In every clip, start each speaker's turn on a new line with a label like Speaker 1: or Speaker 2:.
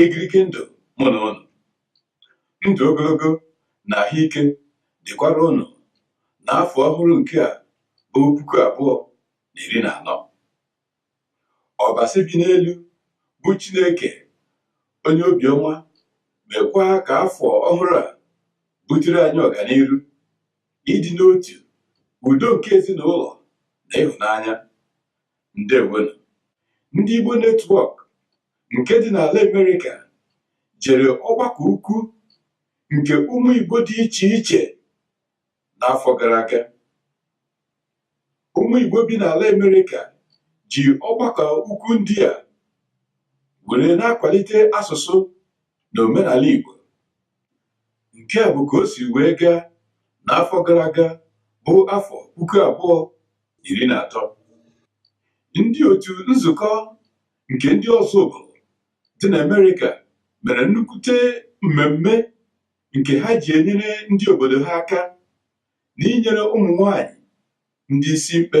Speaker 1: igirigi ndụ mụ na ụnụ ndụ ogologo na ahụike dịkwara ụnụ n'afọ ọhụrụ nke a bụ puku abụọ na iri na anọ ọbasi bi n'elu bụ chineke onye obiọma mekwa ka afọ ọhụrụ a butere anyị ọganiru ịdị n'otu udo nke ezinụlọ na ịhụnanya ndewonụ ndị Igbo network nke dị n'ala Amerịka jere ọgbakọ ukwu nke ụmụ Igbo dị iche iche n'afọ gara aga ụmụ Igbo bi n'ala Amerịka ji ọgbakọ ukwu ndị a were na-akwalite asụsụ na omenala Igbo nke a bụ ka o si wee gaa n'afọ gara aga bụ afọ puku abụọ iri na atọ ndị otu nzukọ nke ndị Ọzụbụlụ dị n'Amerịka mere nnukwute mmemme nke ha ji enyere ndị obodo ha aka n'inyere ụmụ nwanyị ndị isi mkpe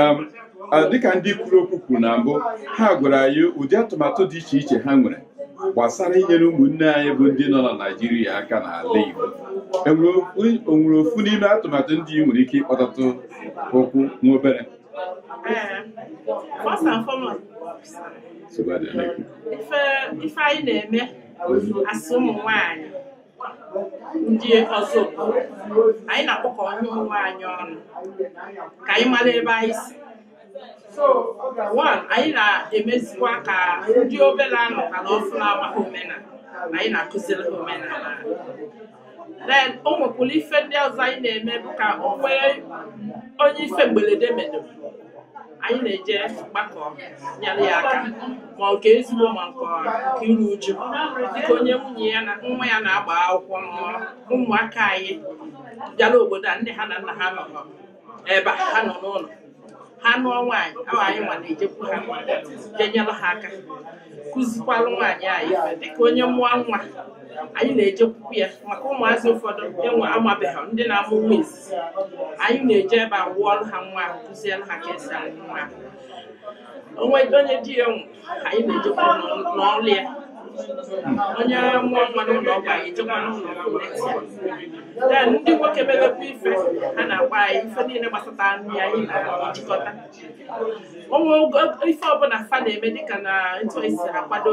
Speaker 2: um, dịka ndị kwuru okwu kwuru na mbụ ha gwara anyị ụdị atụmatụ dị iche iche ha nwere gbasara inyere ụmụnne anyị bụ ndị nọ na Naịjirịa aka n'ala Igbo o nwere ofu n'ime atụmatụ ndị ị nwere ike ịkpọtatụ okwu nwa
Speaker 3: obere first and foremost ife anyị na-eme as ụmụ nwanyị ndị Ọzụbụlụ anyị na-akpọkọ onwe anyị ọnụ ka anyị mara ebe anyị si one anyị na-emezikwa ka ndị obere a nụkalụ ọfụ na-amaghị omenala anyị na-akụziri ha omenala then o nwekwara ife ndị ọzọ anyị na-eme bụ ka o nwee onye ife mberede medoro anyị na-eje gbakọ nyere ya aka ma nke ezigbo ma nke iru uju dịka o nwee onye nwa ya na-agba akwụkwọ n'ụlọ ụmụaka anyị bịara obodo a nne ha na nna ha nọ ebe a, ha nọ n'ụlọ ha nụọ nwaanyị ahụ anyị nwa na-ejekwu ha je nyere ha aka kụzikwalụ nwaanyị ahụ ife dịka onye mụọ nwa anyị na-ejekwu ya maka ụmụazị ụfọdụ enwe amabeghị ndị na-amụ nwa izizi anyị na-eje ebe a wụọlụ ha nwa ahụ kụzielụ ha ka e si awụ nwa ahụ o nwee onye di ya nwụ anyị na-ejekwa n'ọ- n'ụlọ ya onye mụọ nwa n'ụlọ ọgwụ anyị ejekwa n'ụlọ ọgwụ neta ya. Then ndị nwoke mebekwa ife ha na-agwa anyị ife niile gbasata nri anyị na-ejikọta onwe ogo- ife ọbụla fa na-eme dịka na etu anyị si akwado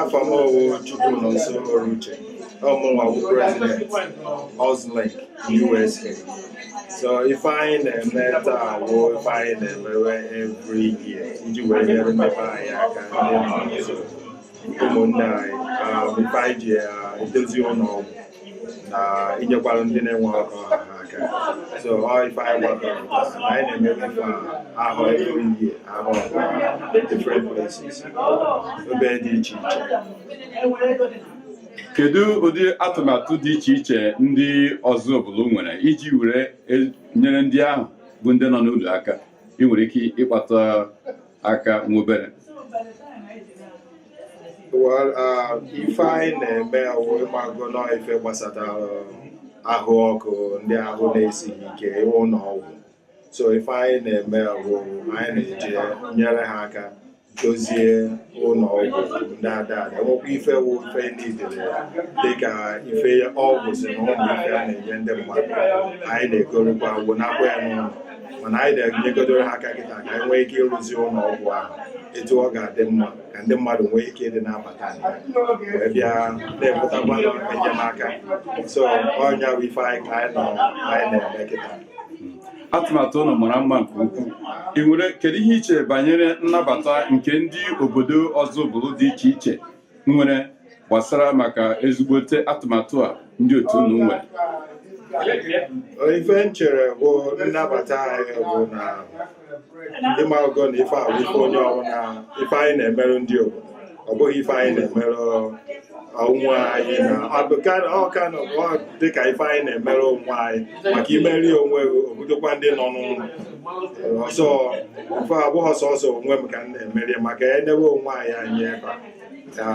Speaker 3: afa
Speaker 4: m ọwụ Chukwunọnso Oruche ọ mụnwa bụ president Ozlink USA so ife anyị na-eme taa wụ ife anyị na-emewe every year iji wee nyere mmepe anyị aka ndị nọ nso ụmụnne anyị um, ife anyị ji uh, edozi ụlọ ọgwụ na inyekwara ndị na-enwerọ ka ọ ha aka so ọ ife anyị gbakọrọ na anyị na-eme ife ahụ every year at different places ebe dị iche iche
Speaker 2: kedu ụdị atụmatụ dị iche iche ndị Ozubulu nwere iji were e, nyere ndị ahụ bụ ndị nọ n'ụlọ aka ị nwere ike ịkpatụ aka nwa
Speaker 4: obere Well, uh, ife anyị na-eme awụ ịmago na ọ ife gbasatara ahụ ọkụ ndị ahụ na-esighị ike ụlọ ọgwụ so ife anyị na-eme awụ anyị na-eje nyere ha aka dozie ụlọ ọgwụ ndị ada ada enwekwa ife wụ ife niile dịka ife ọgwụ si na ụmụ ife a na-enye ndị mmadụ anyị na-egorokwa ọgwụ nakwa ya n'ụlọ mana anyị na-enyegodoro ha aka kịta ka anyị nwee ike ịrụzi ụlọ ọgwụ ahụ etu ọ ga-adị mma ka ndị mmadụ nwee ike ịdị na-abata na ya wee bịa na-enwetakwa enyemaka so ọ nya bụ ife anyị ka anyị nọ anyị na-eme kịta
Speaker 2: atụmatụ unu mara mma nke ukwuu ị nwere kedu ihe i che banyere nnabata nke ndị obodo Ozubulu dị iche iche nwere gbasara maka ezigbote atụmatụ a ndị otu unu nwere ife
Speaker 4: m chere bụ nnabata anyị bụ na ndị mago na ife a wụ ife onye ọbụla ife anyị na-emerụ ndị obodo ọ bụghị ife anyị na-emerụ onwe anyị na ọ ka dịka ife anyị na-emerụ onwe anyị maka imeri onwe gị obudokwa ndị nọ n'ụlọ so ife a abụghị sọsọ onwe m ka m na-emeri maka enewe onwe anyị anyị ebe a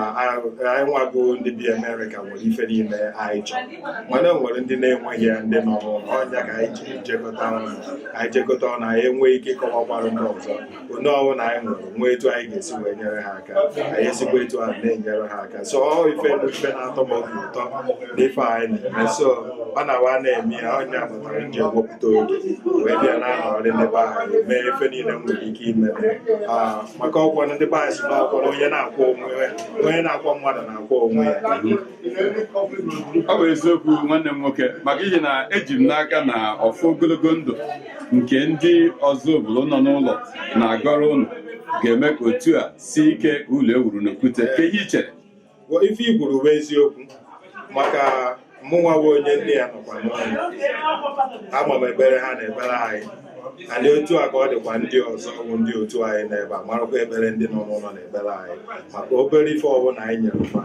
Speaker 4: anyị nwago ndị bi amerịka nwere ife niile anyị chọrọ mana e nwere ndị na-enweghị ya ndị nọ n'ụlọ ọ nya ka anyị ji jekọta ọnụ anyị jekọta ọnụ anyị enwee ike ịkọwakwara ndị ọzọ onye ọbụla anyị nwere nwee etu anyị ga-esi wee nyere ha aka anyị esikwa etu ahụ na-enyere ha aka so ọ ife bụ ife na-atọ m obi ụtọ n'ife anyị na-eme so ọ na-awa na-eme ya ọ nya kpatara m ji ewepụta oge wee bịa na-anọrị ndị be anyị mee ife niile m nwere ike ime Ah, maka ọ kwa ndị be anyị sị na ọkwọ na onye na-akwọ onwe ya onye na-akwọ mmadụ na-akwọ onwe ya
Speaker 2: ọ bụ eziokwu nwanne m nwoke maka ihi na eji m n'aka na ọfọ ogologo ndụ nke ndị Ozubulu nọ n'ụlọ na-agọrọ ụnụ ga-eme ka otu a sie ike ka ụlọ ewuru n'okwute kee ihe i chere ife i
Speaker 4: kwuru bụ eziokwu maka mụnwa bụ onye ndị ya nọkwa n'ụlọ ama m ekpere ha na-ekpere anyị and otu a ka ọ dịkwa ndị ọzọ bụ ndị otu anyị n'ebe a marakwa ekpere ndị nọ n'ụlọ na-ekpere anyị maka obere ife ọbụla anyị nyere ha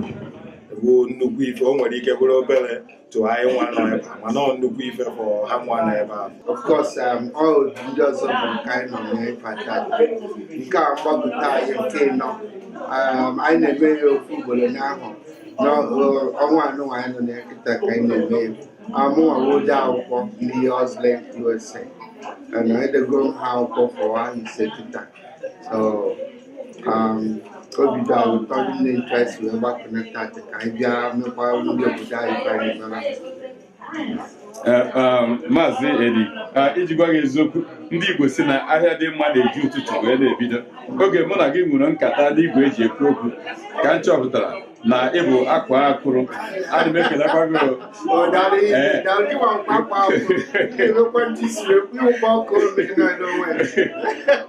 Speaker 4: bụ nnukwu ife o nwere ike bụrụ obere to anyịnwa nọ ebe a mana ọ nnukwu ife for hanwa nọ ebe a of course
Speaker 5: um, ọ otu ndị ọzọ bụ nke anyị nọ n'ife a taa nke a mgbapụta anyị nke ịnọ um, anyị na-eme ya ofu ugboro n'ahọ n'ọnwa a nụnwa anyị nọ na ya kịta ka anyị na-eme ya amụnwa wụ ode akwụkwọ ndị Ozubulu USA and edego m ha akwụkwọ for ahọ ise kịta so um, obi dị anyị ụtọ rinne etu anyị si wee gbakọnata dị ka anyị bịa mekwa ndị obodo anyị ka anyị mara Eh,
Speaker 2: um, Maazị Edi ah, iji gwa gị eziokwu ndị Igbo sị na ahịa dị mma na-eji ụtụtụ wee na-ebido oge mụ na gị nwere nkata n'igwe e ji ekwu okwu ka m chọpụtara na ị bụ akwaa akwụrụ ana m ekelekwa gị o. Ee.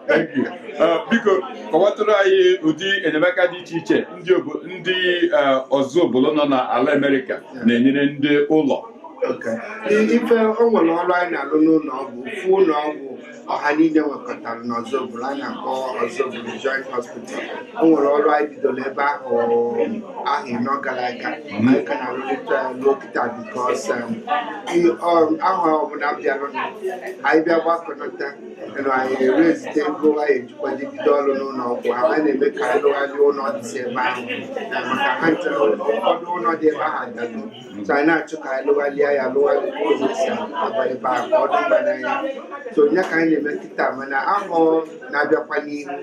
Speaker 2: Thank you. Eh, biko kọwatụrụ anyị ụdị enyemaka dị iche iche ndị obo- ndị eh, Ozubulu nọ n'ala Amerịka na-enyere ndị ụlọ
Speaker 5: ife o nwere ọrụ anyị na-alụ n'ụlọ ọgwụ ofu ụlọ ọgwụ ọha niile nwekọtara n'Ozubulu a na-akpọ Ozubulu Joint Hospital o nwere ọrụ anyị bidoro ebe ahụ ahọ ịnọ gara aga ma anyị ka na-arụrịta ya ruo kịta because ahọ ọbụla bịara anyị bịa gbakọnata nụ anyị e raise-ite ego anyị ejikwadị bido ọrụ n'ụlọ ọgwụ ahụ ma na-eme ka anyị rụgharịa ụlọ dịsị ebe ahụ maka actually ụfọdụ ụlọ dị ebe ahụ adago so anyị na-achọ ka anyị lụgharịa ya lụgharịa ụzọ e si aba ebe ahụ ka ọ dị mma n'anya so ya ka anyị na-eme kịta mana ahọ na-abịakwa n'ihu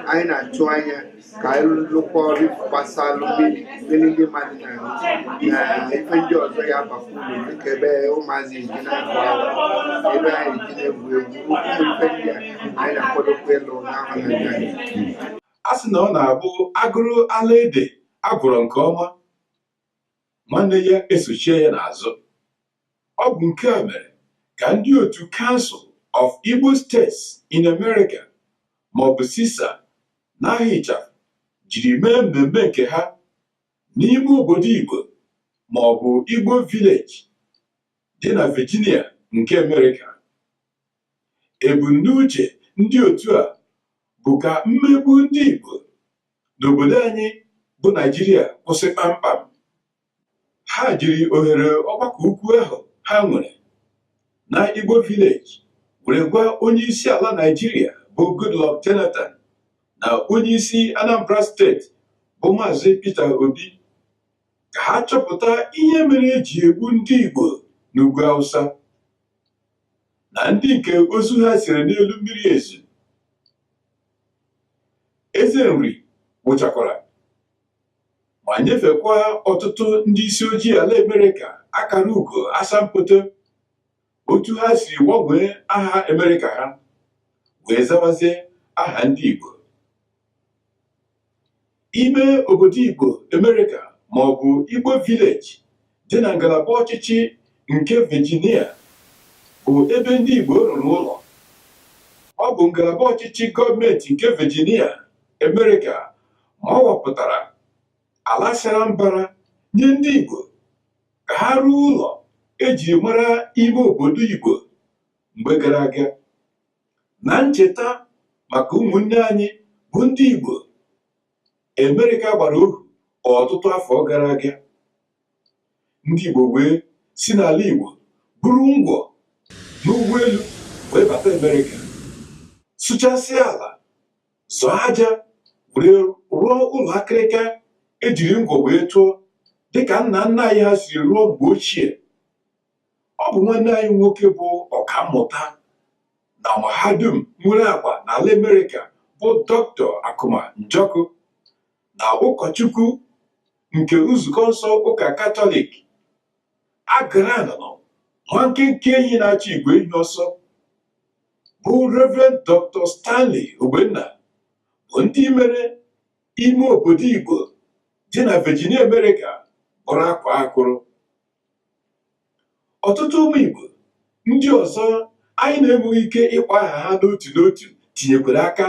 Speaker 5: anyị na-atụ anya ka anyị lụkwa ọrụ gbasalụ mmiri mmiri ndị mmadụ na na ife ndị ọzọ ya-abakwa uru dịka ebe ụmụazị ji na-agụ akwụkwọ ebe anyị ji na-egwu egwu ụmụ ife ndị a anyị na-akwadokwa ịlụ n'ahọ na-abịa a sị
Speaker 1: na ọ na-abụ agụrụ ala ede agụrụ nke ọma nwanne ya esochie ya n'azụ ọ bụ nke a mere ka ndị otu Council of Igbo States in America maọbụ CISA n'aha ịchafụ jiri mee mmemme nke ha n'ime obodo Igbo maọbụ Igbo Village dị na Virginia nke Amerịka Ebumnuche ndị otu a bụ ka mmegbu ndị Igbo n'obodo anyị bụ Naijiria kwụsị kpamkpam. Ha jiri ohere ọgbakọ ukwu ahụ ha nwere na Igbo Village were gwa onye isi ala Naijiria bụ Goodluck Jonathan na onye isi Anambra steeti bụ Maazị Peter Obi ka ha chọpụta ihe mere e ji egbu ndị Igbo n'ugwu Hausa. na ndị nke ozu ha siri n'elu mmiri ezu eze nri wụchakwara ma nyefekwa ọtụtụ ndị isi ojii ala amerịka akara ugo asambodo otu ha si gbanwee aha amerịka ha wee zawazie aha ndị igbo ime obodo Igbo Amerịka ma ọ bụ Igbo Village dị na ngalaba ọchịchị nke Virginia bụ ebe ndị Igbo rụrụ ụlọ ọ bụ ngalaba ọchịchị gọọmenti nke Virginia Amerịka ma ọ wapụtara ala sara mbara nye ndị Igbo ka ha rụọ ụlọ eji mara ime obodo Igbo mgbe gara aga na ncheta maka ụmụnne anyị bụ ndị Igbo Amerịka gbara ohu ọtụtụ afọ gara aga ndị Igbo wee si n'ala Igbo buru ngwọ n'ụgbọelu wee bata Amerịka sụchasịa ala zọọ aja were rụọ ụlọ akịrịka ejiri ngwọ wee tụọ dịka nna nna anyị ha siri rụọ mgbe ochie ọ bụ nwanne anyị nwoke bụ ọkammụta na mahadum nwere agba n'ala Amerịka bụ Dr. Akuma Njọkụ na ụkọchukwu nke nzukọ nsọ ụka katọlik agara anọ nwa nkenke enyi na-achụ igwe enyi ọsọ bụ Rev. Dr. Stanley Ogbonna bụ ndị mere ime obodo Igbo dị na Virginia Amerịka bụrụ akwaa akwụrụ ọtụtụ ụmụ Igbo ndị ọzọ anyị na-enweghị ike ịkpọ aha ha n'otu n'otu tinyekwara aka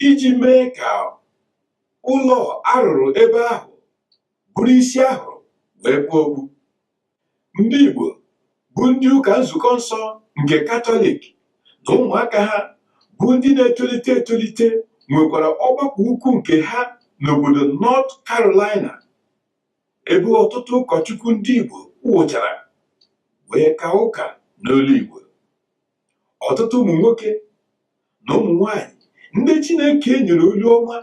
Speaker 1: iji mee ka ụlọ a rụrụ ebe ahụ bụrụ isi a hụrụ wee kpuo okpu ndị Igbo bụ ndị ụka nzukọ nsọ nke katọlik na ụmụaka ha bụ ndị na-etolite etolite nwekwara ọgbakọ ukwu nke ha n'obodo North Carolina ebe ọtụtụ ụkọchukwu ndị Igbo wụchara wee kaa ụka n'olu Igbo ọtụtụ ụmụ nwoke na ụmụ nwanyị ndị Chineke nyere olu ọma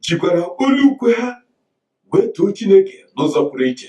Speaker 1: jikwara olu ukwe ha wee too Chineke n'ụzọ pụrụ iche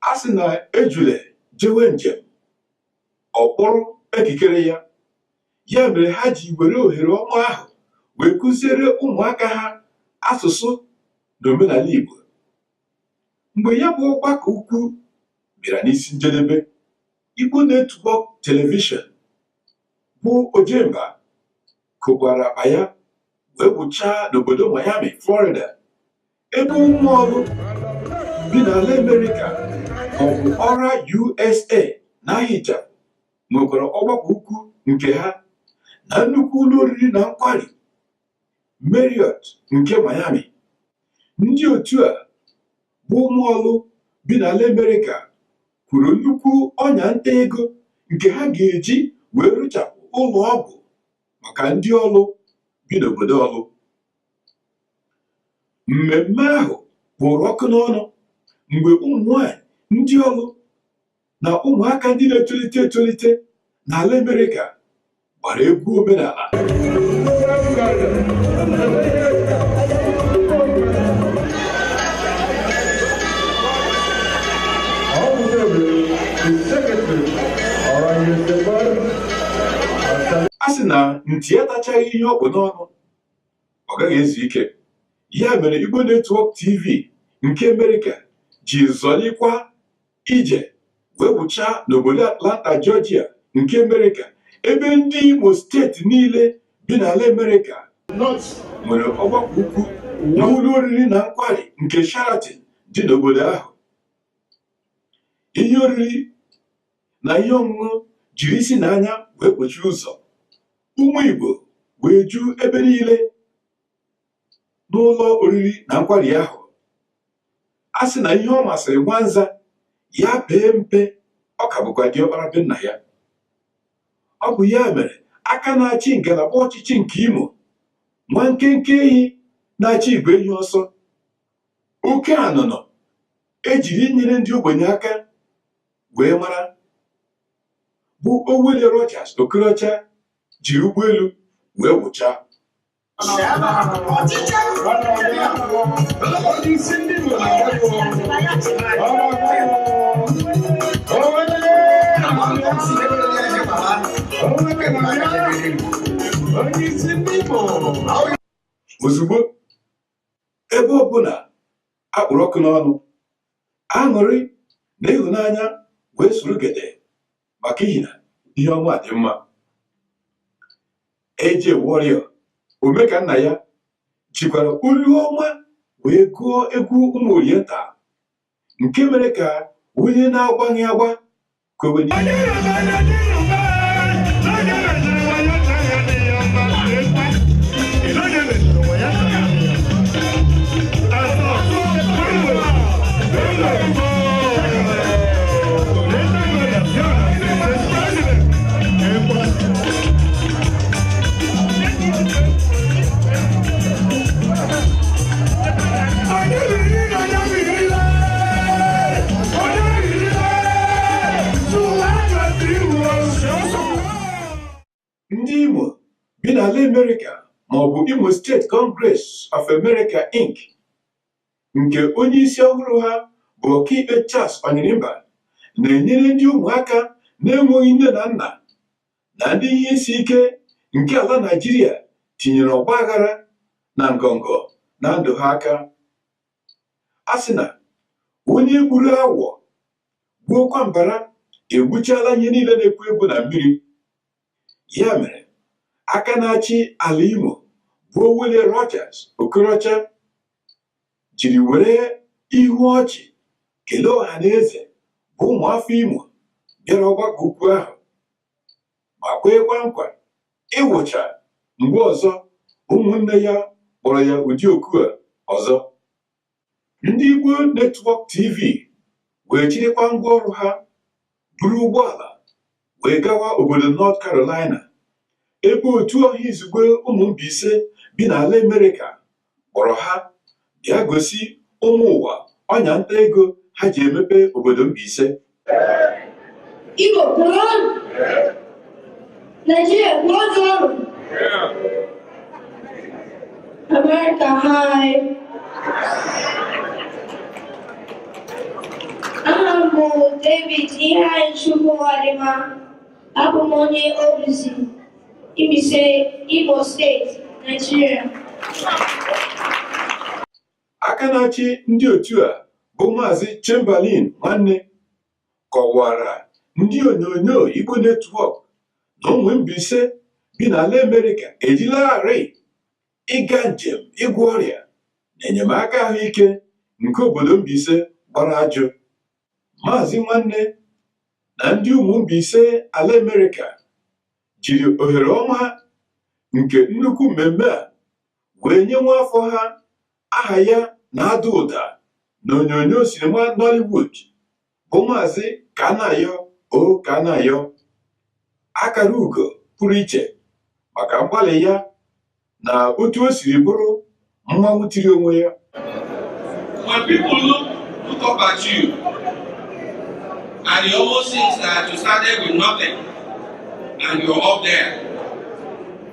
Speaker 1: a sị na ejule jewe njem ọ kpụrụ ekikere ya ya mere ha ji were ohere ọma ahụ wee kụziere ụmụaka ha asụsụ na omenala Igbo mgbe ya bụ ọgbakọ ukwu bịara n'isi njedebe Igbo Network telivishọn bụ Ojemba kokwara akpa ya wee wụchaa n'obodo Miami Florida ebe ụmụ Ọlụ bi n'ala Amerịka ma ọ bụ ORA USA n'aha ịchafụ nwekwara ọgbakọ ukwu nke ha na nnukwu ụlọ oriri na nkwari Marriott nke Miami ndị otu a bụ ụmụ Ọlụ bi n'ala Amerịka kwuru nnukwu ọnya nta ego nke ha ga-eji wee rụchapụ ụlọ ọgwụ maka ndị Ọlụ bi n'obodo Ọlụ mmemme ahụ kpụrụ ọkụ n'ọnụ mgbe ụmụ nwanyị ndị Ọlụ na ụmụaka ndị na-etolite etolite n'ala Amerịka gbara egwu omenala a sị na nti atachaghị ihe o bu n'ọnụ ọ gaghị ezu ike ya mere Igbo Netwọk TV nke Amerịka ji zọlikwa ije wee wụchaa n'obodo Atlanta Georgia nke Amerịka ebe ndị Imo steeti niile bi n'ala Amerịka nwere ọgbakọ ukwu n'ụlọ oriri na nkwari nke Sheraton dị n'obodo ahụ ihe oriri na ihe ọṅụṅụ jiri isi na anya wee kpochie ụzọ ụmụ Igbo wee ju ebe niile n'ụlọ oriri na nkwari ahụ a sị na ihe ọ masịrị nwanza ya pee mpe ọ ka bụkwa diọkpara be nna ya ọ bụ ya mere aka na-achị ngalaba ọchịchị nke Imo nwa nkenke ehi na-achụ igwe ehi ọsọ oke anụnọ ejiri inyere ndị ogbenye aka wee mara bụ Owelle Rochas Okorocha ji ụgbọelu wee wụchaa ozugbo ebe ọbụla akpụrụ ọkụ n'ọnụ aṅụrị na ịhụnanya wee soro gede maka ihi na ihe ọma dị mma AJ Warrior ome ka nna ya jikwara olu ọma wee gụọ egwu ụmụ Oriental nke mere ka onye na-agbaghị agba kwewe ndị Imo bi n'ala Amerịka maọbụ Imo State Congress of America Inc nke onye isi ọhụrụ ha bụ ọkaikpe Charles Onyirimba na-enyere ndị ụmụaka na-enweghị nne na nna na ndị ihe isi ike nke ala Naijiria tinyere ọgba aghara na ngọngọ na ndụ ha aka a sị na onye gburu awọ gbuokwa mbara egbuchala ihe niile na-ekwu okwu na mmiri ya mere aka na-achị ala Imo bụ Owelle Rochas Okorocha jiri were ihu ọchị kelee ọha na eze bụ ụmụafọ Imo bịara ọgbakọ ukwu ahụ ma kweekwa nkwa ịwụcha mgbe ọzọ ụmụnne ya kpọrọ ya ụdị oku a ọzọ ndị Igbo Network TV wee chịrịkwa ngwa ọrụ ha buru ụgbọala wee gawa obodo North Carolina ebe otu ọha izugbe ụmụ Mbaise bi n'ala Amerịka kpọrọ ha bịa gosi ụmụ ụwa ọnya nta ego ha ji emepe obodo Mbaise
Speaker 6: Igbo kwenu Nigeria kwenu America hi aha m bụ David Iheanyịchukwu Ụwadịma abụ m onye Obizi Mbaise Imo steeti
Speaker 1: Nigeria aka na-achị ndị otu a bụ maazị Chamberlain Nwanne kọwara ndị onyonyo Igbo Network na ụmụ Mbaise bi n'ala Amerịka ejilarị ịga njem ịgwọ ọrịa na enyemaka ahụike nke obodo Mbaise gbara ajụ maazị Nwanne na ndị ụmụ Mbaise ala Amerịka jiri ohere ọma nke nnukwu mmemme a wee nye nwa afọ ha aha ya na-ada ụda n'onyonyo sinima Nollywood bụ Maazị Kanayo O Kanayo akara ugo pụrụ iche maka mgbalị ya na otu o siri bụrụ mmanwụ tiri onwe ya
Speaker 7: When people look, look up at you, and it almost seems that you started with nothing, and you're up there.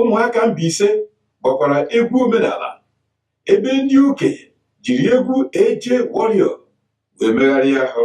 Speaker 1: ụmụaka Mbaise gbakwara egwu omenala ebe ndị okenye jiri egwu Eje Warrior wee megharịa ahụ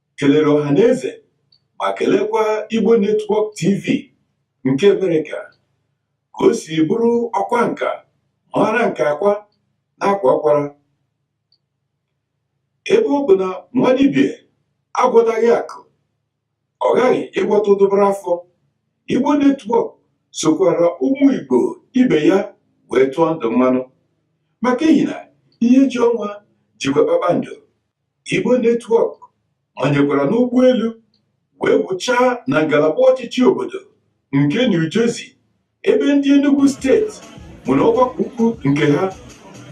Speaker 1: kelere ọha na eze ma kelekwa Igbo Network TV nke Amerịka ka o si bụrụ ọkwa nka mara nke akwa na akwa akwara ebe ọ bụ na nwa dibịa agwọtaghị akụ ọ ghaghị ịgwọta ụdụbara afọ Igbo Network sokwara ụmụ Igbo ibe ya wee tụọ ndụ mmanụ maka ihi na ihe ji ọnwa jikwa kpakpando Igbo Network manyekwara n'ụgbọelu wee wụchaa na ngalaba ọchịchị obodo nke New Jersey ebe ndị Enugu steeti nwere ọgbakọ ukwu nke ha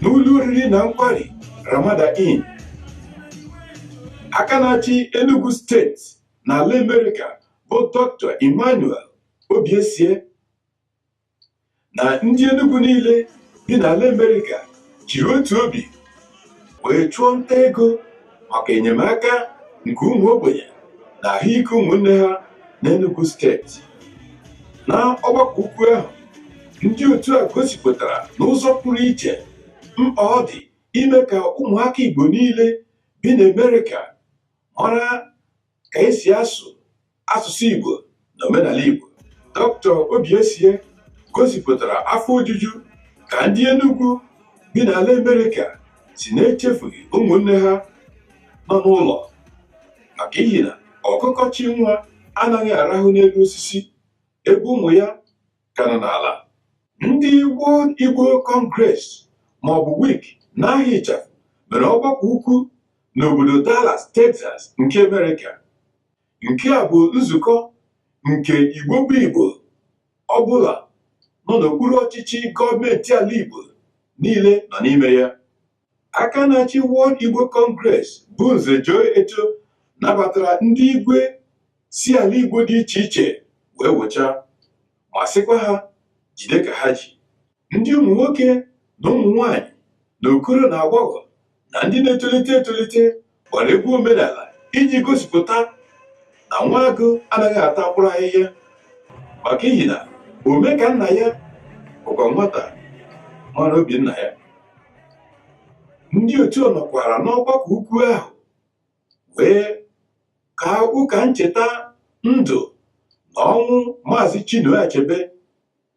Speaker 1: n'ụlọ oriri na nkwari Ramada Inn. Aka na-achị Enugu steeti n'ala Amerịka bụ Dr. Emmanuel Obiesie na ndị Enugu niile bi n'ala Amerịka jiri otu obi wee chụọ nta ego maka enyemaka nke ụmụ ogbenye na ahụike ụmụnne ha n'Enugu steeti na ọgbakọ ukwu ahụ ndị otu a gosipụtara n'ụzọ pụrụ iche mkpa ọ dị ime ka ụmụaka Igbo niile bi n'Amerịka mara ka esi asụ asụsụ Igbo na omenala Igbo Dr. Obiesie gosipụtara afọ ojuju ka ndị Enugu bi n'ala Amerịka si na-echefughị ụmụnne ha nọ n'ụlọ maka ihi na ọkụkọ chị nwa anaghị arahụ n'elu osisi ebe ụmụ ya ka nọ n'ala ndị World Igbo Congress maọbụ WIC n'aha ịchafụ mere ọgbakọ ukwu n'obodo Dallas Texas nke Amerịka nke a bụ nzukọ nke Igbo bụ Igbo ọbụla nọ n'okpuru ọchịchị gọọmenti ala Igbo niile nọ n'ime ya aka na-achị World Igbo Congress bụ Nze Joe Eto nabatara ndị igwe si ala Igbo dị iche iche wee wụcha ma sịkwa ha jide ka ha ji ndị ụmụ nwoke na ụmụ nwanyị na okoro na agbọghọ na ndị na-etolite etolite gbara egwu omenala iji gosipụta na nwa agụ anaghị ata mkpụrụ ahịhịa maka ihi na ome ka nna ya bụkwa nwata mara obi nna ya ndị otu nọkwara n'ọgbakọ ukwu ahụ wee ka ụka ncheta ndụ na ọnwụ maazị Chinua Achebe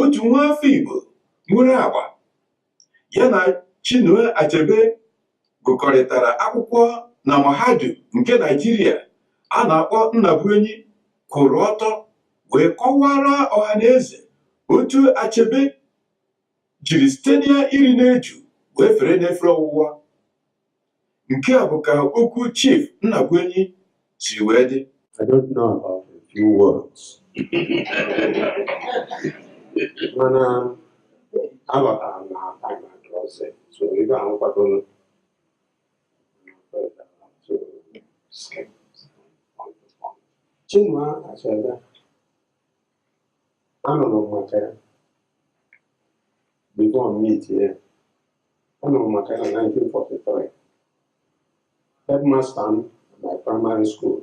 Speaker 1: otu nwa afọ Igbo nwere agba ya na Chinua Achebe gụkọrịtara akwụkwọ na mahadum nke Naijiria a na-akpọ Nnabuenyi kwụrụ ọtọ wee kọwara ọhaneze otu Achebe jiri site n'iri n'eju wee fere n'efere ọwụwa Nke a bụ ka okwu Chief Nnabụenyi si wee dị. I don't know
Speaker 8: about a few words. mana aghọtara m na time adịrọzi so ebe ahụ kwadoro Chinua Achebe anụrụ m maka ya before m meetie ya anụrụ m maka ya na 1943 headmaster m na my primary school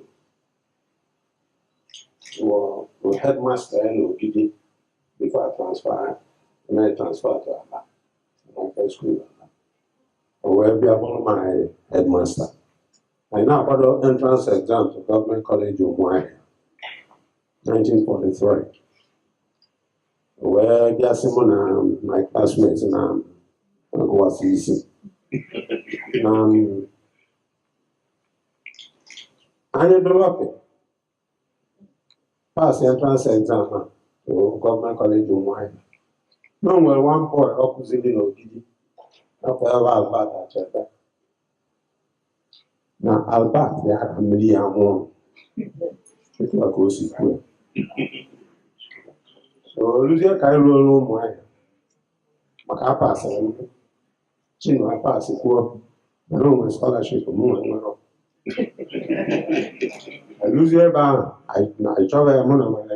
Speaker 8: wụ wụ headmaster ya n'ogidi before a transfer ya transfer to Aba St Michael's school Aba o wee bịa bụrụ my headmaster anyị na-akwado entrance exam to Government College Ụmụahịa 1943 wee bịa sị mụ na my classmate na a sị na anyị dị lucky pass entrance exam na Government College Ụmụahịa na o nwere one boy ọ kụziri n'Ogidi afa ya bụ Albert Achebe na Albert ya ka mmiri ya nwụọ etu a ka o si kwuo so o luzie ka anyị ruo ruo Ụmụahịa maka apasịrị m Chinua apasịkwuo mana o nwere scholarship m nwere nwere eluzie ebe ahụ anyị na- anyị chọba ya mụ na nwere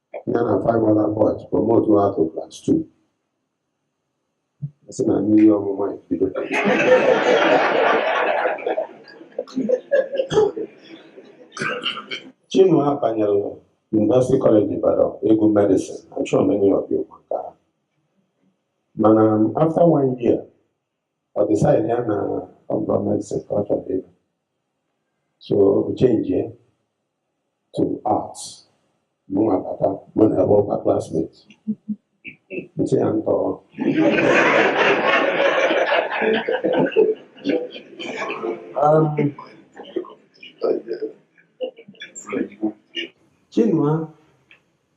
Speaker 8: ya na five other boys promoted to class two sị na mmiri ọmụma bido Chinua abanyela University College Ibadan ịgụ medicine I'm sure many of you ma nke ahụ. mana after one year ọ decide na ọ bụghị medicine ka ọ chọrọ ịgụ so o chenjie to arts mụnwa bata mụ na ya bụrụkwa classmates ntị ya ntọrọ um, Chinua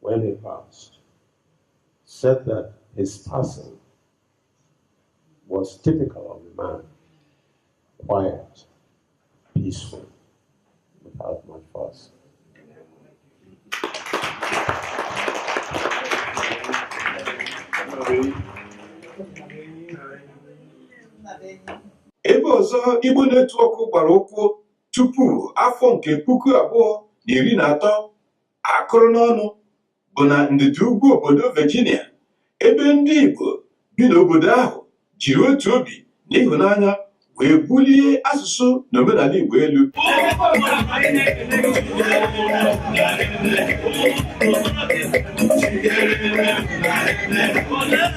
Speaker 8: when he passed, said that his passing was typical of the man quiet, peaceful, without much fuss.
Speaker 1: ebe ọzọ Igbo Netwọk gbara ụkwụ tupu afọ nke puku abụọ na iri na atọ akụrụ n'ọnụ bụ na ndịda ugwu obodo Virginia ebe ndị Igbo bi n'obodo ahụ jiri otu obi na ịhụnanya wee bulie asụsụ na omenala Igbo elu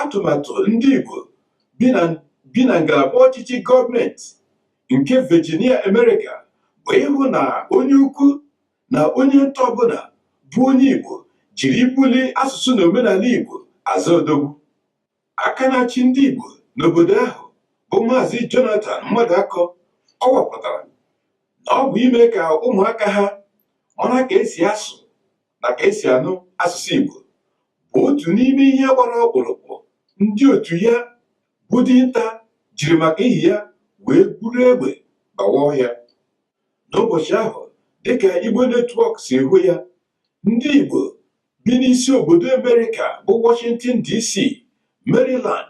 Speaker 1: atụmatụ ndị Igbo bi na ngalaba ọchịchị gọọmenti nke Virginia America bụ ịhụ na onye ukwu na onye nta ọbụla bụ onye Igbo jiri ibuli asụsụ na omenala Igbo aza odogwu aka na-achị ndị Igbo n'obodo ahụ bụ Maazị Jonathan Mmadụakọ kọwapụtara na ọ bụ ime ka ụmụaka ha mara ka esi asụ na ka esi anụ asụsụ Igbo bụ otu n'ime ihe gbara ọkpụrụkpụ ndị otu ya bụ dinta jiri maka ihi ya wee buru egbe gbawa ọhịa n'ụbọchị ahụ dịka Igbo netwọk si hụ ya ndị Igbo bi n'isi obodo Amerịka bụ Washington DC Maryland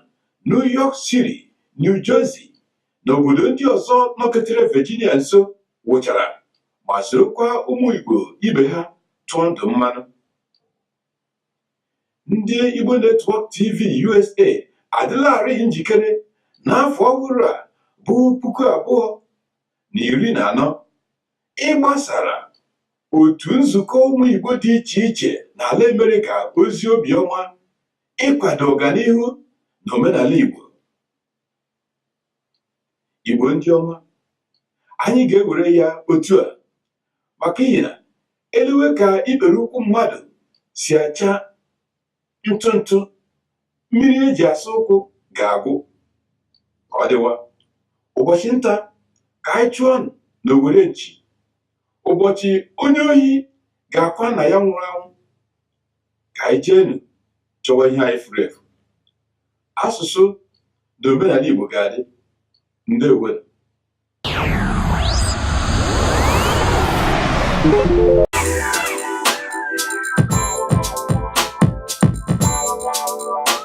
Speaker 1: New York City New Jersey na obodo ndị ọzọ nọketere Virginia nso wụchara ma sorokwa ụmụ Igbo ibe ha tụọ ndụ mmanụ ndị Igbo Network TV USA adịlarị njikere n'afọ ọhụrụ a bụ puku abụọ na iri na anọ ịgbasara otu nzukọ ụmụ Igbo dị iche iche n'ala Amerịka ozi obiọma ịkwado ọganihu na omenala Igbo igbo ndị ọma anyị ga-ewere ya otu a maka ihi na e lewe ka ikpere ụkwụ mmadụ si acha ntụ ntụ mmiri e ji asa ụkwụ ga-agwụ ka ọ dịwa ụbọchị nta ka anyị chụọnụ n'owere nchi ụbọchị onye ohi ga-akwa nna ya nwụrụ anwụ ka anyị jeenụ chọwa ihe anyị furu efu asụsụ na omenala Igbo ga-adị ndeewonụ